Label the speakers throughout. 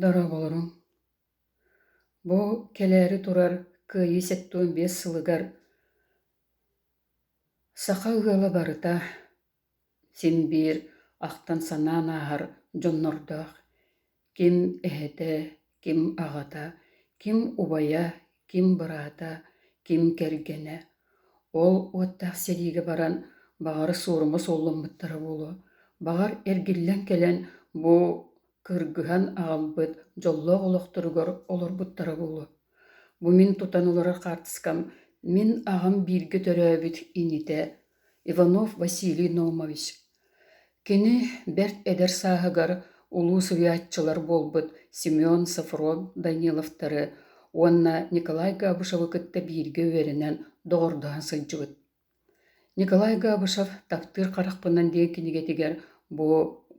Speaker 1: Дорооболоруҥ! Бу кэлээри турар Кыайыы сэттуон биэс сылыгар саха ыала барыта син биир ахтан-санаан ааһар дьоннордоох, ким эһэтэ, Ким аҕата, ким убайа, ким быраата, ким кэргэнэ. Ол уоттаах сэриигэ баран баҕара суорума суолламмыттара буолуо, баҕар эргиллэн кэлэн бу кыргыһан аҕалбыт дьоллоох олохторугар олорбуттара буолуо. Бу мин тутан олорор хаартыскам мин аҕам бииргэ төрөөбүт инитэ Иванов Василий Номович Кини бэрт эдэр сааһыгар улуу суруйааччылар буолбут Семен Софров Даниловтары уонна Николай Габышевы кытта бииргэ үөрэнэн доҕордоһон сылдьыбыт. Николай Габышев «Таптыыр харахпынан» диэн кинигэтигэр бу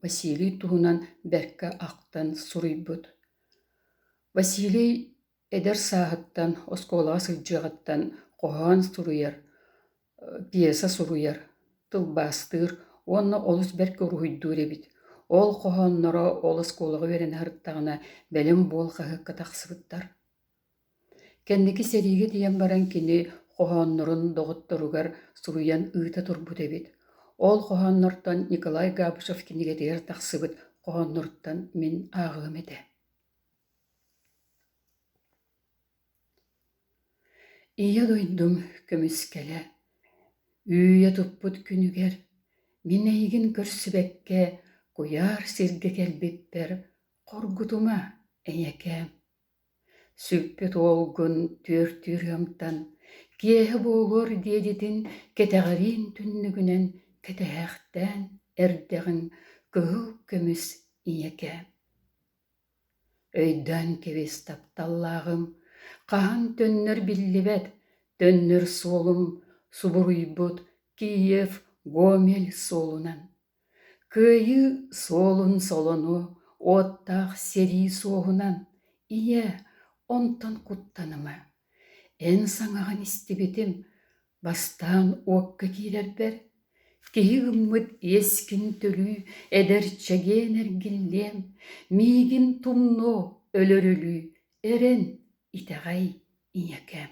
Speaker 1: Василий туһунан бэркэ ахтан суруйбут. Василий Эдэр сааһыттан, оскуолаҕа сылдьыаҕыттан хоһоон суруйар, пьеса суруйар, тылбаастыыр уонна олус бэркэ уруһуйдуур эбит. Ол хоһоонноро ол оскуолаҕа үөрэнэ сырыттаҕына бэлэм буол хаһыакка тахсыбыттар. Кэнники сэриигэ тиийэн баран кини хоһооннорун доҕотторугар суруйан ыыта турбут эбит. Ол хоһооннортон Николай Габышев кинигэтигэр тахсыбыт хоһоонноруттан мин ааҕыам этэ Ийэ дойдум көмүскэлэ, Үүйэ туппут күнүгэр, Мин эйигин көрсүбэккэ Куйаар сиргэ кэлбиппэр Хоргутума, эйэкээм. Сүппүт уолгун түөртүүр ыамтан, Киэһэ буолуор диэдитин Кэтэҕириин түннүгүнэн Кэтэһээхтээн эрдэҕиҥ Кыһыл көмүс ийэкээм. Өйдөөн кэбис, тапталлааҕым, хаһан төннөр биллибэт, төннөр суолум субуруйбут Киев Гомель суолунан. Кыайыы суолун солону уоттаах сэрии суоһунан. Ийэ, онтон куттаныма, эн саҥаҕын истибитим, Бастаан уокка киирэрбэр, киһи ыммыт иэскин төлүү, эдэр чэгиэн эргиллиэм, миигин тумнуо, өлөрүлүү, эрэн, итэҕэй, ийэкээм